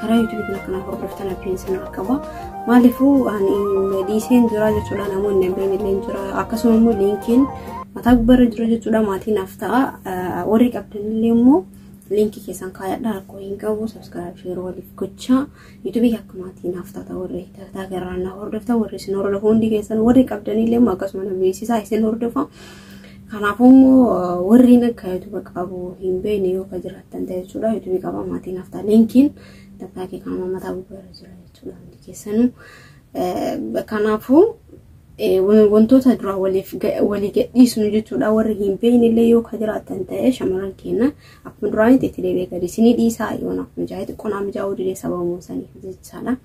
karaa yuutuubii kana kana hordoftan abdiin isin irra qaba. Maaliifuu ani dhiiseen jira jechuudha namoonni abdiin illee jira akkasuma immoo liinkiin mataa gubbarra jira jechuudha maatiin naaf ta'a warri qabdan illee immoo liinkii keessan kaayadha rakkoo hin qabu sabskiraayib sheer waliif gochaa yuutuubii akka maatii naaf taata warri dalagaa garaan na hordoftan warri isin hordofu hundi keessan warri qabdan illee immoo akkasuma na beeksisaa isin hordofa. Kanaafuu immoo warreen akka yuutuuba qabu hin beekne yoo akka jiraattan ta'e jechuudha. Yuutuubii qaba maatiin haftaa linkiin takkaa kee kan mataa gubbaarra jira jechuudha hundi keessanuu. Kanaafuu wantoota duraa waliif walii gadhiisnu jechuudha warri hin beekne illee yoo akka jiraattan ta'e shamarran keenya akkuma duraanitti itti deebi'ee gadi isinii dhiisaa yoo naaf mijaa'e xiqqoonaa mijaa'uu didee sababa muusaniif jechaadha.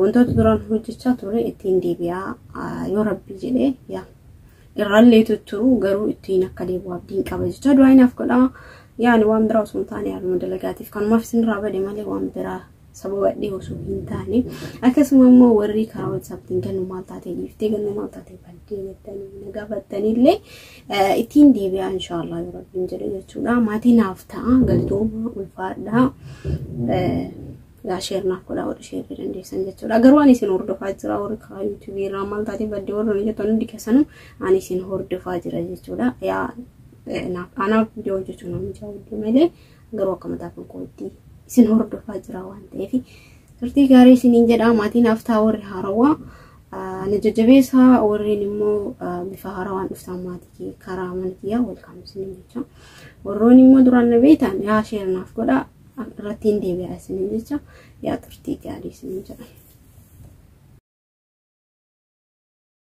Wantoota duraan hojjechaa ture ittiin deebi'aa yoo rabbi jedhee yaa irrallee tutturuu garuu ittiin akka deebi'u abdiin qaba jecha du'aa inaaf godhaa yaani waan biraa osoo hin taane haaluma dalagaatiif kanumaaf isinirraa bade malee waan biraa sababadhee osoo hin taane akkasuma immoo warri karaa whatsapptiin gannu maal taatee dhiiftee gannu maal taatee baddee jettanii na gaafattanillee ittiin deebi'aa inshaallah yoo rabbiin jedhe jechuudha maatii naaf ta'a galtooma ulfaadhaa Yaa sheer naaf godhaa warri sheer dandeessan jechuudha. Garuu ani isin hordofaa jira warri karaa yuutuubii irraa maal taatee badde warri nuyi jettan hundi keessanu ani isin hordofaa jira jechuudha. Yaa naaf anaaf viidiyoo hojjechuun nama jaawwaddu malee garuu akka mataa kan kootti isin hordofaa jira waan ta'eef turtii gaarii isiniin jedhaa maatii naaf ta'a warri haarawaa na jajjabeessaa warreen immoo bifa haarawaan dhuftaan maatii kee karaa mana kiyyaa welkaam isiniin jecha warroon immoo duraan na beektan yaa sheer naaf godhaa irratti hin deebi'a isiniin jecha yaa turtii gaarii isiniin jedha.